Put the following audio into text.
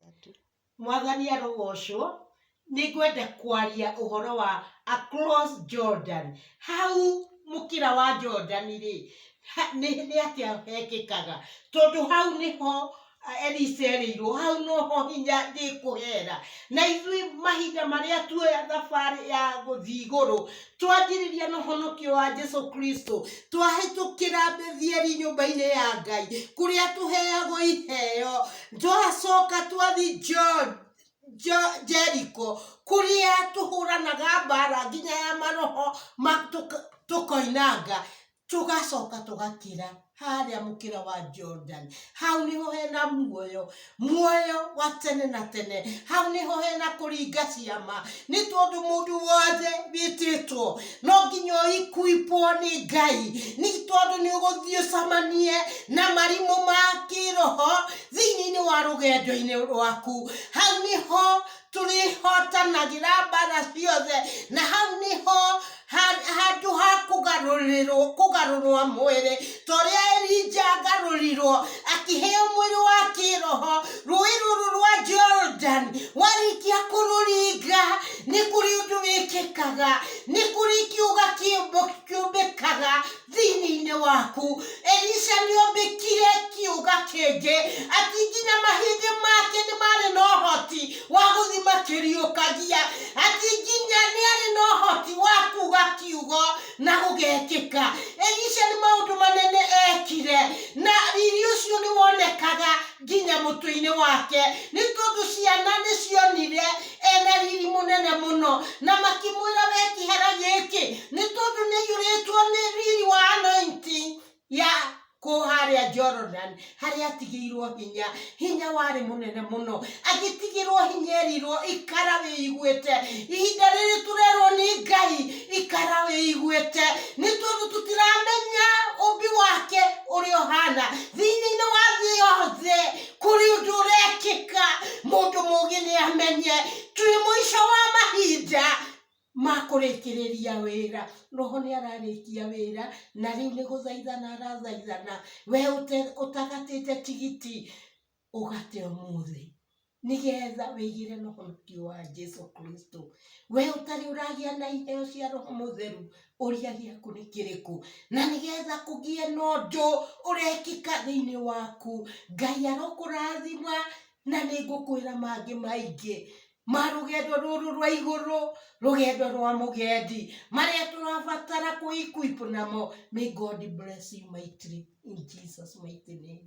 Tatu. mwathani arogocwo nĩ ngwenda kwaria ũhoro wa across jordan hau mũkĩra wa jordan rĩ ha- nĩ nĩ atĩa hekĩkaga tondũ hau nĩho ah, elisa erĩirwo hau noho hinya ndĩkũhera na ithuĩ mahinda marĩa tuoya thabarĩ ya gũthiĩ igũrũ twanjĩrĩria na ũhonokio wa jesu kristo twahĩtũkĩra bethieli nyũmba-inĩ ya ngai kũrĩa tũheagwo iheo twacoka twathi Jo- Jo- jeriko kũrĩa tũhũranaga mbara nginya ya maroho ma- tũka- tũkoinanga tũgacoka tũgakĩra harĩa mũkĩra wa Jordan hau niho hena muoyo muoyo wa tene na tene hau niho hena kũringa ciama nĩ tondũ mũndũ wothe wĩtĩtwo no nginya ũikuipwo nĩ ngai nĩ tondũ nĩ ũgũthiĩ ũcamanie na marimũ ma kĩroho thĩinĩ-inĩ wa rũgendo-inĩ rwaku hau niho tũrĩhotanagĩra mbara ciothe na hau nĩho handũ ha kũgarũrĩrwo kũgarũrwa mwĩrĩ torĩa Elija agarũrirwo akĩheo mwĩrĩ wa kĩroho rũĩ rũrũ rwa Jordan warĩkia kũrũringa nĩ kũrĩ ũndũ wĩkĩkaga nĩ kũrĩ kiuga kĩũmbĩkaga thĩinĩ waku. Elisha nĩ ombĩkire kiuga kĩngĩ ati nginya mahĩndĩ make nĩ marĩ na ũhoti wa gũthi makĩriũkagia, ati nginya nĩ arĩ na ũhoti wa kuga kiugo na gũgekĩka. Elisha nĩ maũndũ manene ekire na riri ũcio nĩ wonekaga nginya mũtwe-inĩ wake, nĩ tondũ ciana nĩ cionire ena riri mũnene mũno, na makĩmwĩra, we kĩhera gĩkĩ, nĩ tondũ nĩ aiyũrĩtwo nĩ riri wa anointing ya kũ harĩa Jordan, harĩa atigĩirwo hinya, hinya warĩ mũnene mũno, agĩtigĩrwo hinya erirwo ikara wĩiguĩte, ihinda rĩrĩ tũrerwo nĩ Ngai, ikara wĩiguĩte nĩ tondũ tũtiramenya ũmbi wake ũrĩa ũhana thĩinĩ-inĩ wa thĩ yothe kũrĩ ũndũ ũrekĩka mũndũ mũgĩ nĩ amenye twĩ mũico wa mahinda ma kũrĩkĩrĩria wĩra roho nĩ ararĩkia wĩra na rĩu nĩ gũthaithana arathaithana we ũte- ũtagatĩte tigiti ũgate ũmũthĩ nĩgetha wĩigĩre na ũhoti wa Jesu Kristo. We ũtarĩ ũragĩa na iheo cia Roho Mũtheru, ũria gĩaku nĩ kĩrĩkũ? Na nĩgetha kũgĩe na ũndũ ũrekĩka thĩinĩ waku, Ngai arokũrathima na nĩ ngũkwĩra mangĩ maingĩ ma rũgendo rũrũ rwa igũrũ, rũgendo rwa mũgendi, marĩa tũrabatara kwĩ equip namo. May God bless you mightily in Jesus mighty name.